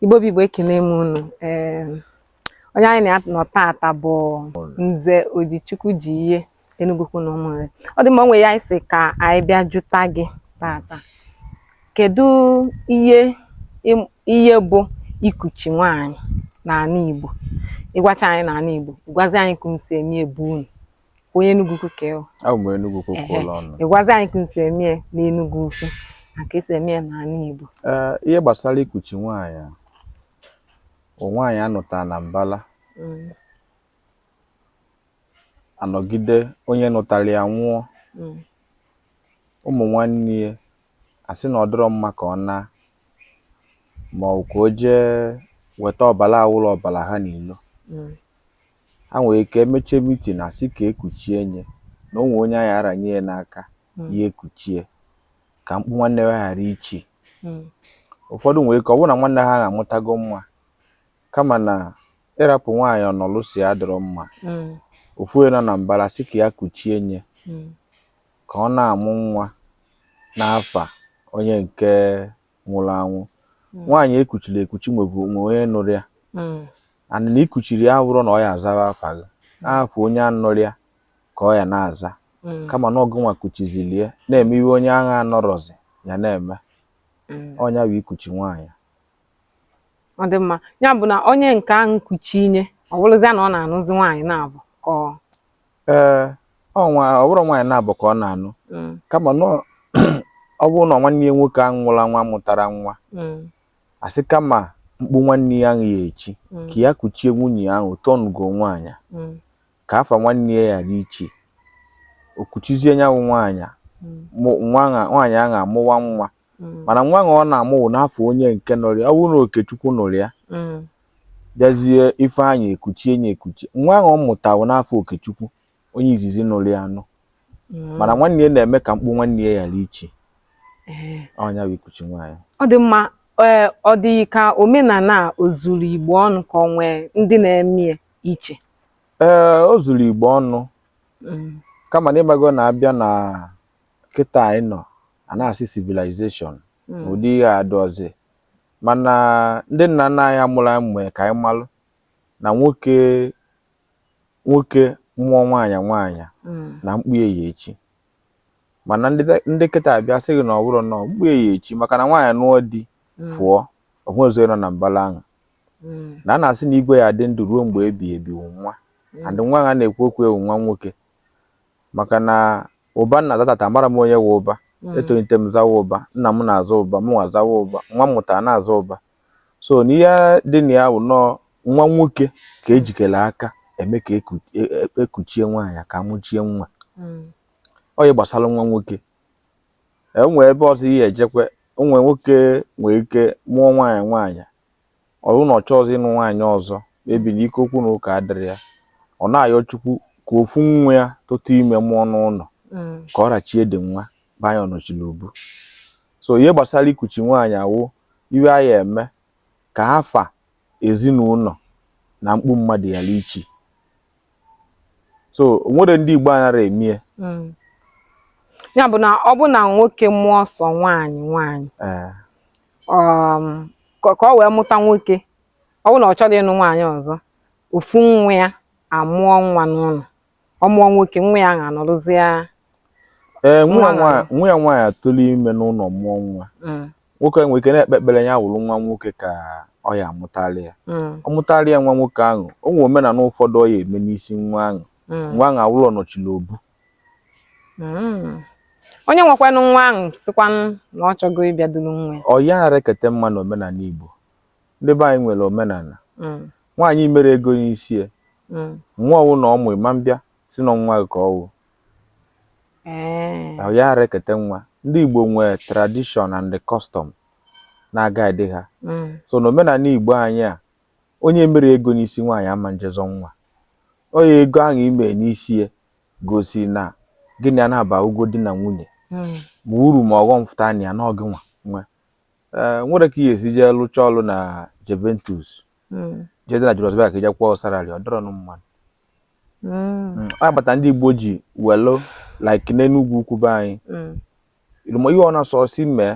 Igbo bụ Igbo ekene m unu onye anyị na ya nọ taata bụ Nze Odichukwu ji ihe Enugwu ukwu na Ụmụnri ọ dị mma o nwe ihe anyị sị ka anyị bịa jụta gị taata kedu ihe bụ ikuchi nwaanyị n'ala Igbo ịgwacha anyị n'ala Igbo ịgwazi anyị ka unu si eme ya be unu onye Enugwu ukwu ka ị wụ abụ m Enugwu ukwu ka ụlọ ọnụ ịgwazi anyị ka esi eme ya n'Enugwu ukwu na ka esi eme ya n'ala Igbo ihe gbasara ikuchi nwaanyị nwaanyị a nụtara na mbala mm. anọgide onye nụtara ya nwụọ mm. ụmụ nwanne ya asị na ọ dịrọ mma ka ọ naa ma ọ wụ ka o jee weta ọbara awụrọ ọbara ha n'ilo mm. ha nwere ike mechie mitin sị ka ekuchie nye na o nwe onye a ya-aranye ya n'aka hmm. ya ekuchie ka mkpu nwanne ha ghara ichi hmm. ụfọdụ nwere ike ọ bụrụ na nwanne ha amụtago nwa kama na ịrapụ nwaanyị ọ nọlụ si adịrọ mma hmm. ofu onye nọ na mbara sị ka ya kuchie nye ka ọ na-amụ nwa n'afa onye nke nwụrụ anwụ hmm. nwaanyị ekuchiri ekuchi nwebu onye nụrụ ya hmm. and na ikuchiri ya abụrọ na ọ ya-azawa afa gị hmm. afa onye a nụrụ ya ka ọ ya na-aza kama na ọ gịnwa kuchizili ya na-eme ihe onye ahụ anọrọzi ya na-eme ọ nya bụ ikuchi nwaanyị ọ dị mma ya bụ na onye nke ahụ kuchie nye ọ bụrụzia na ọ na-anụzi nwaanyị naabọ ka ee na ọ bụrọ nwaanyị naabọ ka ọ na-anụ Mm, kama na ọ- ọ bụrụ na nwanne ya nwoke ahụ nwụrụ anwụ amụtarọ nwa mm, asị kama mkpu nwanne ya ahụ ya-echi mm, ka ya kuchie nwunye ya ahụ though ọ nụgo nwaanyị mm, ka afa nwanne ya ghara ichi o kuchizie nya wụ nwaanyị mm, mụ- nwa ahụ- nwaanyị ahụ amụwa nwa mm. mana nwa ọ na-amụ wụ n'afa onye nke nụrụ ya ọ bụrụ na okechukwu nụrụ ya mm. bịazie ifeanyị ekuchie nye ekuchi nwa ọ mụta wụ n'afa okechukwu onye izizi nụrụ ya anụ mm. mana nwanne ya na-eme ka mkpu nwanne ya ghara ichi eh. ọ nya bụ ikuchi nwaanyị ọ dị mma eh, ọ dị ka omenala o zuru igbo ọnụ ka ọ nwee ndị na-eme ya iche ee eh, o zuru igbo ọnụ kama na ị mago na a bịa na kịta anyị nọ a na-asị civilization hmm. ụdị ihe a adịrọzi mana ndị nna nna anyị mụrụ anyị mee ka anyị malụ na nwoke nwoke mụọ nwaanyị nwaanyị hmm. na mkpu ya echi mana ndị kịta abịa sị gị na ọ bụrọ na mkpu ya echi maka na nwaanyị nụọ di hmm. fụọ ọhụ ọzọ nọ na mbala ahụ na a na-asị na igwe ya dị ndụ ruo mgbe ebighị ebi nwa and nwa a na-ekwu okwu ya wụ nwa nwoke maka na ụba m na-aza tata amara m onye wụ ụba hmm. etolite m zawa ụba nna m na-aza ụba mụ nwa zawa ụba nwa m mụtara na-aza ụba so na ihe dị na ya wụ na ọ nwa nwoke ka ejikere aka eme ka ekuchie e, e, e nwaanyị ka amụchie nwa hmm. onye gbasara nwa nwoke enwee ebe ọzọ ị ya ejekwe o nwe nwoke nwee ike mụọ nwaanyị nwaanyị ọ bụrụ na ọ chọọzị ịnụ nwaanyị ọzọ maybe na ike okwu na ụka adịrị ya ọ na-ayọ chukwu ka ofu nwa ya tụtụ ime mụọ n'ụlọ mm. ka ọ rachie dị nwa banye ọnọchi na obu so ihe gbasara ikuchi nwaanyị awụ ihe a ya eme ka afa ezinụlọ na mkpu mmadụ ghara ichi so nwere ndị Igbo anara eme ya hmm. ya bụ na ọ bụ na nwoke mụọ sọ nwaanyị nwaanyị eh. um, ka ọ wee mụta nwoke ọ bụ na ọ chọrọ ịnụ nwaanyị ọzọ ofu nwa ya amụọ nwa n'ụlọ ọ mụọ nwoke nwa ya ga-anọrụzi ya ee eh, nwa ya nwaanyị atụrụ ime n'ụlọ mụọ nwa hmm. nwoke nwere ike na-ekpe ekpere ya wụrụ nwa nwoke ka ọ ya amụtara ya mm. ọ mụtara ya nwa nwoke ahụ o nwere omenala ụfọdụ ọ ya eme n'isi nwa ahụ mm. nwa ahụ awụrụ ọnọchi na obu mm. onye nwekwanụ nwa ahụ sịkwanụ na ọ chọgo ịbịa duru nwa ya ọ ya ara ekete nwa na omenala Igbo ndị be anyị nwere omenala nwaanyị mere ego n'isi ya nwa ọ wụna ọ mụ ịma mbịa sị na nwa gị ka ọ wụ eh. na ya ara ekete nwa ndị Igbo nwee tradition and the custom na-aguide ha mm. so na omenala Igbo anyị a onye mere ego n'isi nwaanyị ama nje zọ nwa ọ nya ego ahụ i me n'isi ya gosi na gị na ya abụgo di na nwunye hmm. ma uru ma ọghọm fụta na ya na ọ gị nwa nwe eh, nwere ka ị ya esi jee lụcha ọlụ na Juventus hmm. jede na Julius Berger ka ije kwụọ salary ọ dịrọ mma nụ Mm. a bata ndị Igbo ji welu like n'Enugwu ukwu be anyị mm. irumo ihe ọ na-asọ si mee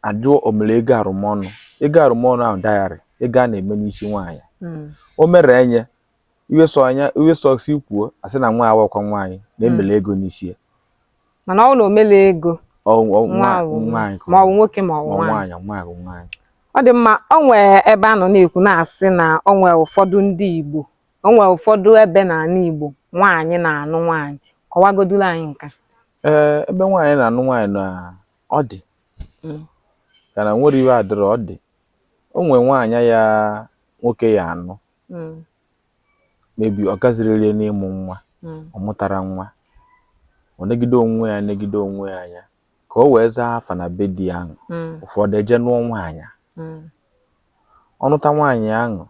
adịọ omere ego arụmọnụ ego arụmọnụ ahụ dowry ego a na-eme n'isi nwaanyị mm. o mere enye iwe sọ anya iwe sọ si kwuo asị na nwa awakwa nwaanyị na emere ego n'isi ya mana ọ na omele ego nwaanyị ma ọ bụ nwoke ma ọ bụ nwaanyị nwaanyị nwaanyị ọ dị mma o nwee ebe a nọ na-ekwu na-asị na o nwee ụfọdụ ndị Igbo O nwere ụfọdụ ebe n'ala Igbo nwaanyị na-anụ nwaanyị. Kọwagoduru anyị nke a. Ee, ebe nwaanyị na-anụ nwaanyị na ọ dị. Mm. Ka na nwere ihe adịrọ ọ dị. O nwere nwaanyị ya nwoke ya anụ. Mm. Maybe ọ gaziriri ya n'ịmụ nwa. Mm. Ọ mụtara nwa. Ọ negide onwe ya anya negide onwe ya anya ka o wee zaa afa na be di ahụ. Mm. Ụfọdụ eje nụọ nwaanyị. Mm. Ọ nụta nwaanyị ahụ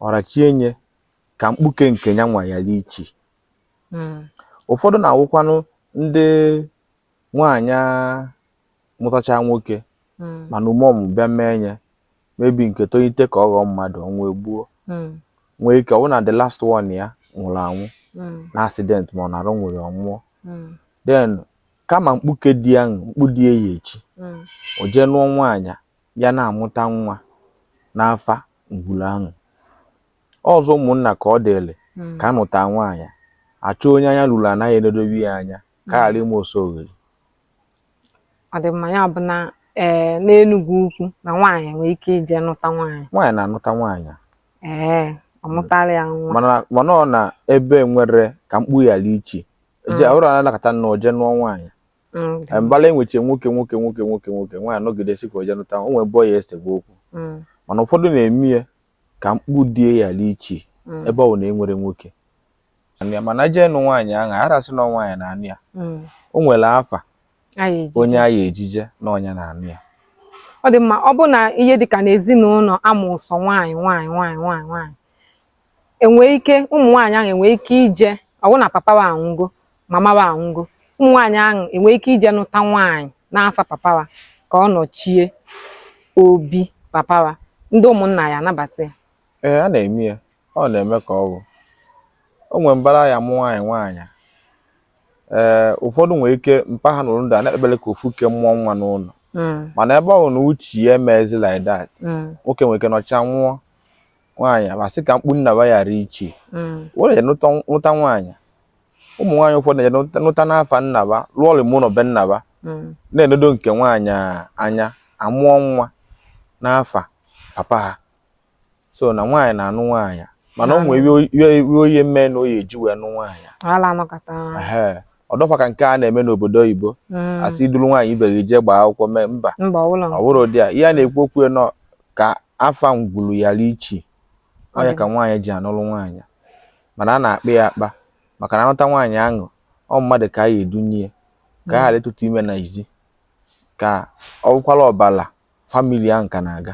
ọ rachienye ka mkpuke nke ya nwa ghara ichi hmm. ụfọdụ na-awụkwanụ ndị nwaanyị mụtacha nwoke hmm. mana ume ọmụmụ bịa mee nye maybe nke tonyite ka ọ ghọọ mmadụ ọnwụ egbuo hmm. nwee ike ọ wụ na the last one ya nwụrụ anwụ na accident ma ọ na arụ nwere ọ nwụọ then kama mkpuke di ya mkpu di ya echi o jee nụọ nwaanyị ya na-amụta nwa n'afa ngwuru ahụ ọzọ ụmụnna ka ọ dịrị hmm. ka a nụta nwaanyị a chọọ onye anya ruru ana ya enedobe ya anya ka hmm. a ghara ime oso oghere ọ dị mma ya bụ na ee eh, n'Enugwu Ukwu na nwaanyị nwere ike ije nụta nwaanyị nwaanyị na-anụta nwaanyị ee eh, ọ mụtara ya nwa mana ọ na ebe nwere ka mkpu ghara ichi eje hmm. ọrụ anakọta nna o jee nụọ nwaanyị mm, dị. mbala enweche nwoke nwoke nwoke nwoke nwoke nwaanyị nọgide sị ka o je nụta o nwee ebe ọ ya esegbu okwu Mm, mana ụfọdụ na-eme ya ka mkpu di ya ghara ichi mm, ebe ọ bụ na e nwere nwoke Anụ ya, mana jee nụ nwaanyị ahụ arasị na nwaanyị na-anụ ya mm. o nwere afa onye a ya ejije na ọ nya na-anụ ya ọ dị mma ọ bụ na ihe dịka n'ezinụnọ a mụ sọ nwaanyị nwaanyị nwaanyị nwaanyị nwaanyị enwee ike ụmụ nwaanyị ahụ enwee ike ije ọ wụ na papa wa anwụgo mama wa anwụgo ụmụ nwaanyị ahụ enwee ike ije nụta nwaanyị n'afa papa wa ka ọ nọchie obi papa wa ndị ụmụnna ya anabata ya ee a na-eme ya ọ na-eme ka ọ bụ o nwere mbara ya mụ nwaanyị nwaanyị ee ụfọdụ nwere ike mpa ha nọrọ ndụ a na-ekpebele ka ofu ke mụọ nwa n'ụnọ Mm, mana ebe ọ bụ na uche ya emezi like that mm, nwoke nwere ike nọcha nwụọ nwaanyị ba sị ka mkpu nna ba ghara ichi mm. were jee nụta nwaanyị ụmụ nwaanyị ụfọdụ na-eje nụta n'afa nna ba lụọ ọlụ ụnọ be nna ba mm. na-enedo nke nwaanyị anya amụọ nwa n'afa papa ha so na nwaanyị na-anụ nwaanyị mana o nwee ihe ọ ya eme na ọ ya eji wee nụ nwaanyị ọ dọfa ka nke a na-eme n'obodo oyibo mm. a sị iduru nwaanyị ibe gị jee gbaa akwụkwọ mee mba ọ bụrọ ụdị a ihe a na-ekwu okwu ya na ọ ka afa ngwulu ghara ichi ọ nya ka nwaanyị ji anụrụ nwaanyị mana a na-akpa ya akpa maka na a nụta nwaanyị ahụ ọ mmadụ ka a ya edunye ka a ghara ịtụta ime n'ezi ka ọ bụkwala ọbala famili ahụ ka na-aga